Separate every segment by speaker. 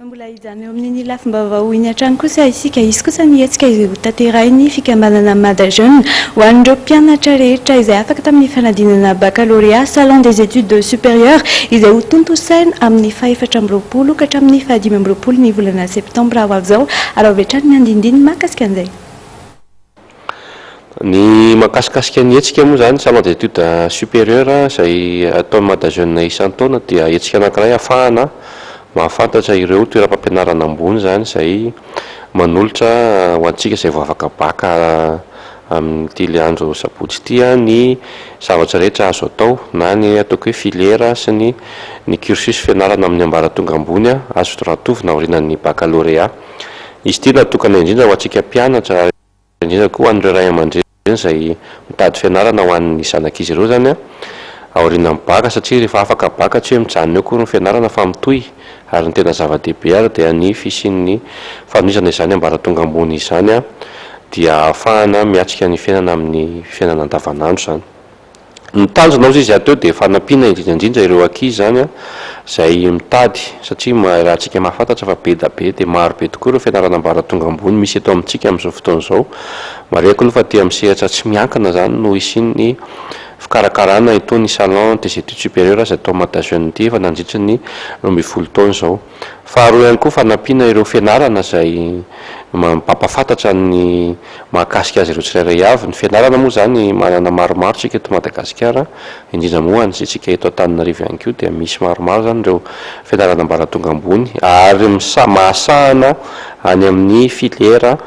Speaker 1: Mbola hijanona eo amin'iny lafim-baovao iny hatrany kosa isika. Hisy kosa ny hetsika izay hotanterahin'ny fikambanana Mada Jeune ho an'ireo mpianatra rehetra izay afaka tamin'ny fanadinana bakalorea, Salon des Etudes Supérieures, izay hotontosaina amin'ny fahefatra amby roapolo ka hatramin'ny fahadimy amby roapolo ny volana septambra ho avy izao, ary ao avy hatrany ny andinindininy mahakasika an'izay.
Speaker 2: Ny mankasikasika ny hetsika moa izany, salon d'étude supérieur, izay ataon'ny Madajeune isan-taona dia hetsika anankiray ahafahana mahafantatra ireo toeram-pampianarana ambony izany izay manolotra ho antsika izay vao afaka bac amin'ity andro sabotsy ity ny zavatra rehetra azo atao na ny ataoko hoe filière sy ny ny cursus fianarana amin'ny ambaratonga ambony azo rantovina aorianan'ny baccalauréat. Izy ity natokana indrindra ho antsika mpianatra ary indrindra koa ho an'ireo ray aman-dreny izay mitady fianarana ho an'ny zanak'izy ireo izany aorianan'ny baka satria rehefa afaka baka tsy hoe mijanona eo akory ny fianarana fa mitohy ary ny tena zava-dehibe ary dia ny fisian'ny fanohizana izany ambaratonga ambony izany dia ahafahana miatrika ny fiainana amin'ny fiainana andavanandro izany. Ny tanjona ozy izy ato eo dia fanampiana indrindra indrindra ireo ankizy izany an, izay mitady satria ma- raha antsika mahafantatra fa be da be dia maro be tokoa ireo fianarana ambaratonga ambony misy eto amintsika amin'izao fotoana izao. Marihiko aloha fa aty amin'ny sehatra tsy miankina izany no hisian'ny fikarakarana itony salon des études supérieures izay tao Mata Jeunes ity efa nandritry ny roa ambin'ny folo taona izao. Faharoa ihany koa fanampiana ireo fianarana izay mampahafantatra ny mahakasika azy ireo tsirairay avy. Ny fianarana moa izany manana maromaro isika eto Madagasikara, indrindra moa any isika eto Antananarivo ihany koa dia misy maromaro izany ireo fianarana ambaratonga ambony ary misà- mahasahana any amin'ny filière.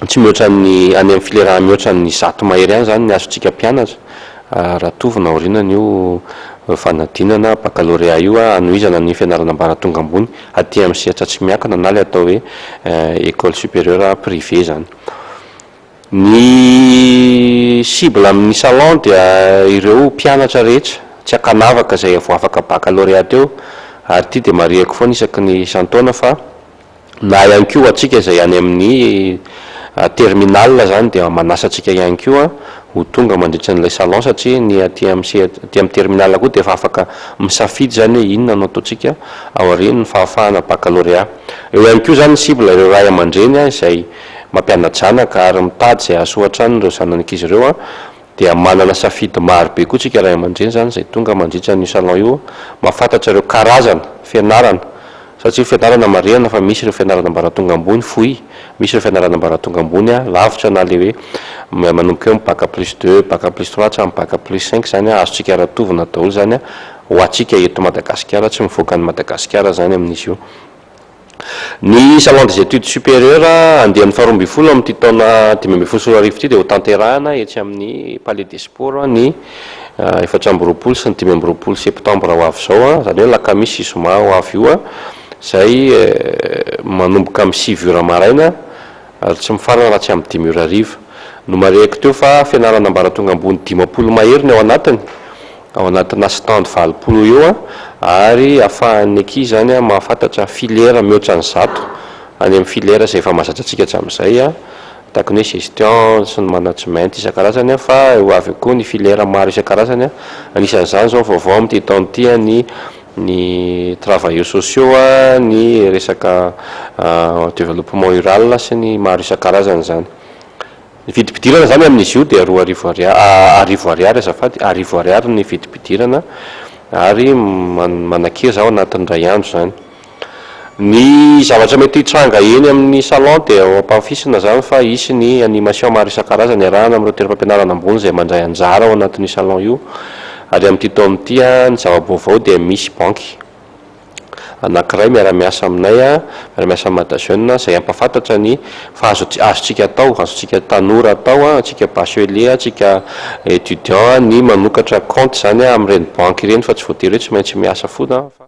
Speaker 2: tsy mihoatra ny, any amin'ny filera mihoatra ny zato mahery any izany ny azontsika mpianatra raha tovona aorianany io fanadinana baccalauréat io hanohizana ny fianarana ambaratonga ambony aty amin'ny sehatra tsy miankina na ilay atao hoe école supérieure privée izany. Ny cible amin'ny salon dia ireo mpianatra rehetra tsy ankanavaka izay vao afaka baccalauréat teo ary ity dia marihiko foana isaky ny isan-taona fa na ihany koa ho antsika izay any amin'ny terminal izany dia manasa antsika ihany koa ho tonga mandritra an'ilay salon satria ny aty amin'ny sehat aty amin'ny terminal koa dia efa afaka misafidy izany hoe inona no ataontsika aorian'ny fahafahana baccalauréat. Eo ihany koa izany ny cible ireo ray aman-dreny izay mampiana-janaka ary mitady izay hahasoa hatrany ireo zanan'izy ireo Dia manana safidy maro be koa tsika ray aman-dreny izany izay tonga mandritra an'io salon io mba fantatra ireo karazana fianarana satria fianarana marihana fa misy ireo fianarana ambaratonga ambony fohy, misy ireo fianarana ambaratonga ambony lavitra na ilay hoe manomboka eo amin'ny bac plus deux, bac plus trois hatramin'ny bac plus cinq izany azontsika aratovina daholo izany ho antsika eto Madagasikara, tsy mivoaka an'i Madagasikara izany amin'izy io. Ny Salon des Etudes Supérieures andiany faharoa ambin'ny folo amin'ity taona dimy ambin'ny folo sy roa arivo ity dia hotanterahina etsy amin'ny Palais des Sports ny efatra amby roapolo sy ny dimy amby roapolo septambra ho avy izao, izany hoe alakamisy sy zoma ho avy io, izay manomboka amin'ny sivy ora maraina ary tsy mifarana raha tsy amin'ny dimy ora hariva. Nomarihiko teo fa fianarana ambaratonga ambony dimampolo mahery ny ao anatiny. ao anatina stand valopolo eo ary afahan'ny ankizy izany mahafantatra filière mihoatra ny zato any amin'ny filière izay efa mahazatra antsika hatramin'izay tahaka ny hoe gestion sy ny management isan-karazany fa ho avy eo koa ny filière maro isan-karazany anisan'izany izao vaovao amin'ity taona ity ny ny travailleurs sociaux, ny resaka développement rural sy ny maro isan-karazany izany. Ny vidim-pidirana izany amin'izy io dia roa arivo ariary, arivo ariary azafady, arivo ariary ny vidim-pidirana ary manakeza ao anatin'ny indray andro izany. Ny zavatra mety hitranga eny amin'ny salon dia ho ampahafisina izany fa hisy ny animation maro isan-karazany iarahana amin'ireo toeram-pampianarana ambony izay mandray anjara ao anatin'io salon io ary amin'ity taona ity, ny zava-baovao dia misy banky. anankiray miara-miasa aminay, miara-miasa amin'i Madajeune, izay hampahafantatra ny fa azo azontsika atao, azontsika tanora atao, antsika bachelier, antsika étudiant ny manokatra compte izany amin'ireny banky ireny fa tsy voatery hoe tsy maintsy miasa foana fa.